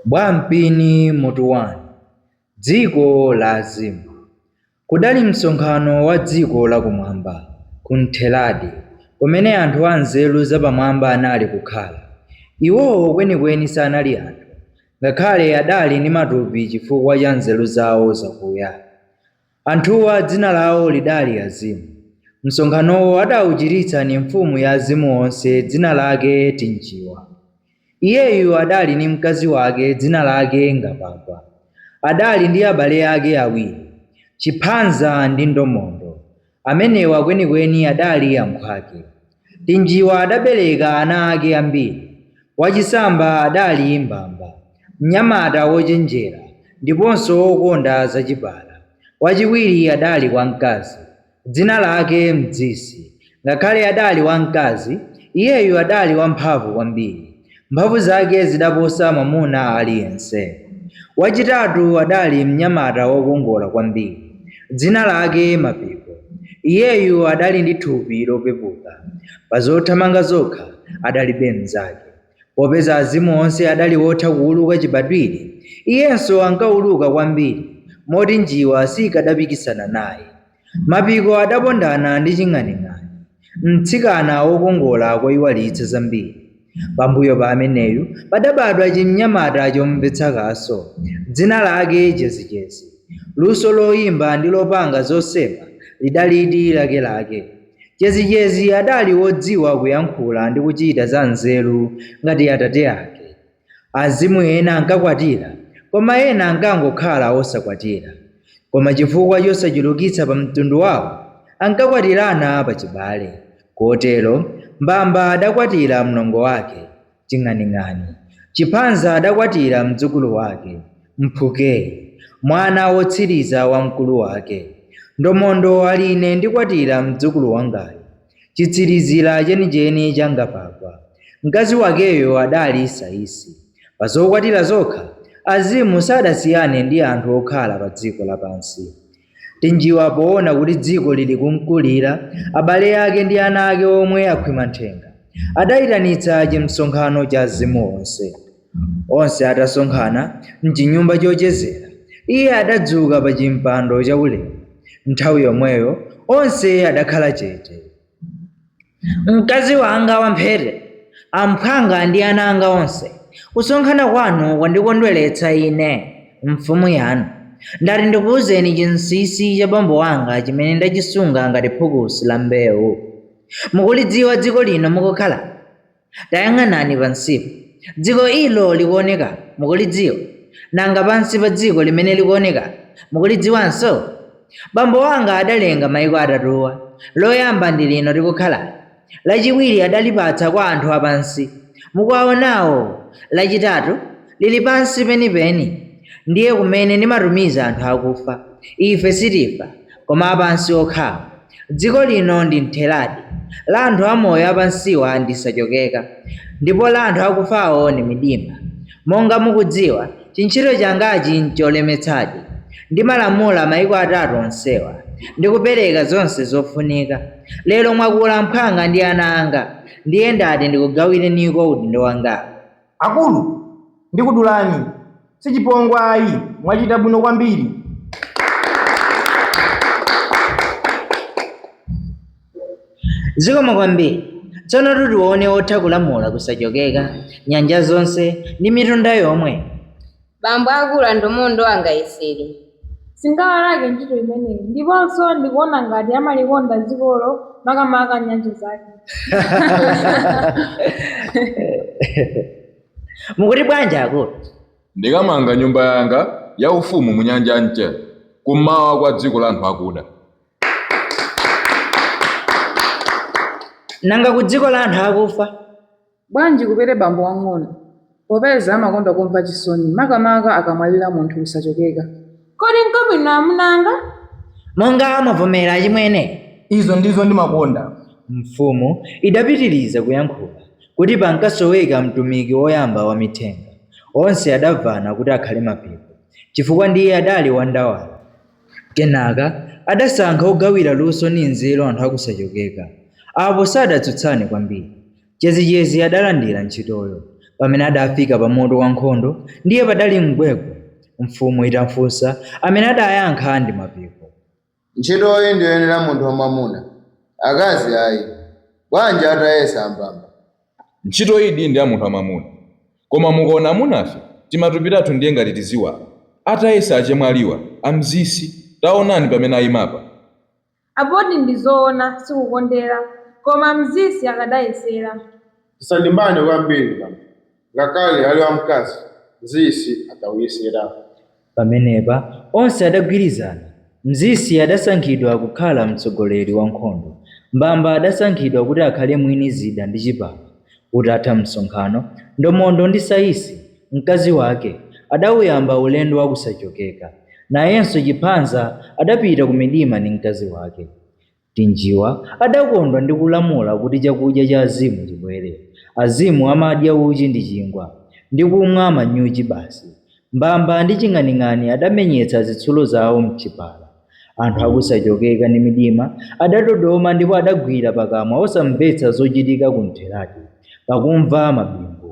Bwampini Mutu 1 Dziko la Azimu Kudali msonkhano wa dziko lakumwamba ku Ntheradi, kumene anthu anzeru zapamwamba anali kukhala. Iwowo kwenikweni sanali anthu, ngakhale adali ndi matupi chifukwa cha nzeru zawo zakuya. Anthuwa dzina lao lidali Azimu. Msonkhanowo adauchititsa ni mfumu ya azimu onse dzina lake Tinjiwa. Iyeyu adali ni mkazi wake dzina lake Ngapagwa. Adali ndi abale ake awiri, Chiphanza ndi Ndomondo. Amenewa kwenikweni adali amphwake. Tinjiwa adabereka ana ake ambiri, wachisamba adali Mbamba, mnyamata wochenjera ndiponso wokonda zachipala, wachiwiri adali wamkazi, dzina lake Mdzisi, ngakhale adali wamkazi, iyeyu adali wamphamvu kwambiri, Mphamvu zake zidaposa mwamuna aliyense. Wachitatu adali mnyamata wokongola kwambiri, dzina lake Mapiko. Iyeyu adali ndi thupi lopepuka. Pa zothamanga zokha adalibe mnzake. Popeza azimu onse adali wotha kuwuluka chibadwire, iyenso ankawuluka kwambiri moti njiwa sikadapikisana naye. Mapiko adapondana ndi Ching'aning'ani, mtsikana wokongola koyiwalitsa zambiri. Pambuyo pa ameneyu padabadwa chimnyamata chomvetsa kaso, dzina lake Jezijezi. Luso loyimba ndi lopanga zosema lidalidi lakelake. Jezijezi adali wodziwa kuyankhula ndi kuchita za nzeru ngati atate ake. Azimu ena ankakwatira, koma ena ankangokhala osakwatira. Koma chifukwa chosachulukitsa pa mtundu wao, ankakwatirana pa chibale. Kotero, Mbamba adakwatira mlongo wake, Ching'aning'ani. Chiphanza adakwatira mdzukulu wake, Mphukei, mwana wotsiriza wa mkulu wake. Ndomondo ali ine ndikwatira mdzukulu wangayu. Chitsirizira chenicheni cha Ngapagwa, mkazi wakeyo adali Saisi. Pa zokwatira zokha, azimu sadasiyane ndi anthu okhala padziko lapansi. Tinjiwa poona kuti dziko lili kumkulira, abale ake ndi ana ake omwe akhwima nthenga, adaitanitsa chimsonkhano cha azimu onse. Onse atasonkhana m'chinyumba chochezera, iye adadzuka pa chimpando chaulemu. Nthawi yomweyo onse adakhala chete. Mkazi wanga wamphete, amphwanga ndi ana anga onse, kusonkhana kwanu kwandikondweretsa ine, mfumu yanu. Ndati ndikuuzeni chinsinsi cha bambo wanga chimene ndachisunga ngati phukusi la mbewu. Mukulidziwa dziko lino mukukhalali? Tayang'anani pansipo. Dziko ilo likuwoneka, mukulidziwa? Nanga pansi pa dziko limene likuwonekalo, mukulidziwanso? Bambo wanga adalenga maiko atatuwa, loyamba ndi lino tikukhalali, lachiwiri adalipatsa kwa anthu a pansi, mukuwawonawo, lachitatu liri pansi penipeni. Ndiye kumene ndimatumiza anthu akufa. Ife sitifa, koma a pansi okhawo. Dziko lino ndi Mtheradi, la anthu amoyo apansiwa ndi Sachokeka, ndipo la anthu akufawo ndi Midima. Monga mukudziwa, chintchito changachi ncholemetsadi. Ndimalamula maiko atatu onsewa, ndi kupereka zonse zofunika. Lero mwakula mphwanga ndi ana anga, ndiye ndati ndikugawireniko udindo wangawu. Akulu ndikudulani sichipongwe ayi mwachita bwino kwambiri. Zikomo kwambiri. Tsonotu tione otha kulamula ku Sachokeka, nyanja zonse ndi mitunda yomwe. Bambo akulu aNdomondo angayesere. Singawalake ntchito imeneyi ndiponso ndikuona ngati amalikonda dzikolo makamaka nyanja zake. Mukuti bwanji akulu? Ndikamanga Nyumba yanga ya Ufumu mu Nyanja ya Mchere, kum'mawa kwa dziko la anthu akuda. Nanga ku dziko la anthu akufa? Bwanji Kubere bambo wang'ono popeza amakonda kumva chisoni makamaka akamwalira munthu ku Sachokeka? Kodi nkwabwino amuna anga? Monga mwavomera achimwene? Izo ndizo ndimakonda. Mfumu idapitiriza kuyankhula kuti pankasoweka mtumiki woyamba wamithenga. Onse adamvana kuti akhale Mapiko chifukwa ndiye adali wandawala. Kenaka adasankha ogawira luso ndi nzeru anthu a ku Sachokeka. Apo sadatsutsane kwambiri. Chezecheze adalandira ntchitoyo. Pamene adafika pa moto wa nkhondo, ndiye padali mgwegwe. Mfumu itafunsa, amene adayankha ndi Mapiko. Ntchitoyi ndiyoyenera munthu wamwamuna, akazi ayi. Bwanji atayesa aMbamba? Ntchitoyidi ndi ya munthu wamwamuna. Koma mukaona amunafe, timatupi tathu ndiye ngati tiziwala. Atayesa achemwaliwa, aMzisi, taonani pamene aimapa. Apotu ndizoona sikukondera koma Mzisi atayesera. Tisalimbane kwambiri bambo ngakhale ali wamkazi Mzisi atauyesera. Pamenepa onse adagwirizana. Mzisi adasankhidwa kukhala mtsogoleri wankhondo. Mbamba adasankhidwa kuti akhale mwini zida ndi chipala. Utatha msonkhano, Ndomondo ndi Saisi, mkazi wake, adauyamba ulendo wa ku Sachokeka. Nayenso Chiphanza adapita ku Midima ndi mkazi wake. Tinjiwa adakondwa ndi kulamula kuti chakudya cha Azimu chibwere. Azimu amadya uchi ndi chingwa, ndi kumwa manyuchi basi. Mbamba ndi Ching'aning'ani adamenyetsa zitsulo zawo m'chipala. Anthu a ku Sachokeka ndi Midima adadodoma ndipo adagwira pakamwa osamvetsa zochitika ku Mtheradi pakumva mabingu.